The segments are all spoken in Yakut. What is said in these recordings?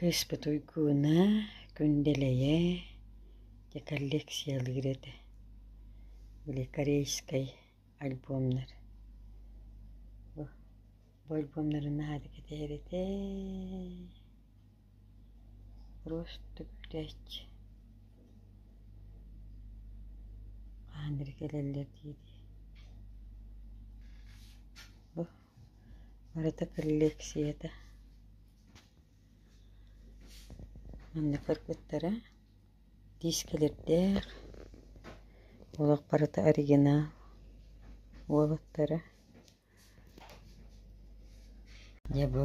Кыыспыт Уйгууна, Күндэлэйэ дьэ коллекциялыыр этэ. Били корейскай альбомнар. Бу, бу альбомнарын наһаа да кэтэһэр этэ. Просто күтээч. Хаһан эрэ кэлэллэр диэри. Бу Барыта кэллиэксийэтэ манна көрбүттэрэ диискэлэрдээх олох барыта оригинал уолаттара дьэ бу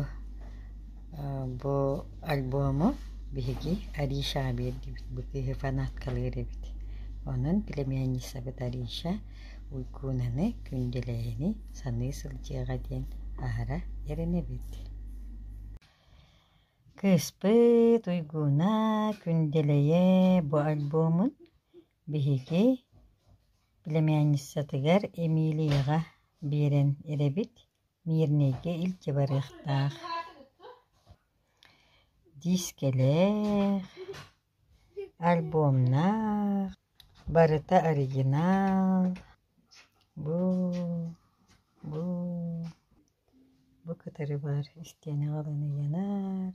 бу альбому биһиги ариша биэрдибит бу киһи фанаткалыыр эбит онон племянницабыт ариша Уйгунаны Күндэлэйэни саныы сылдьыаҕа диэн аһара эрэнэбит Кыыспыт Уйгуна Күндэлэйэ бу альбомун биһиги племянницатыгар Эмилияҕа биэрэн эрэбит Мирнэйгэ илдьэ барыахтаах диискэлээх Альбомнаах, барыта оригинал. Бу, бу, бу кытары баар истиэнэҕэ ылан ыйанар.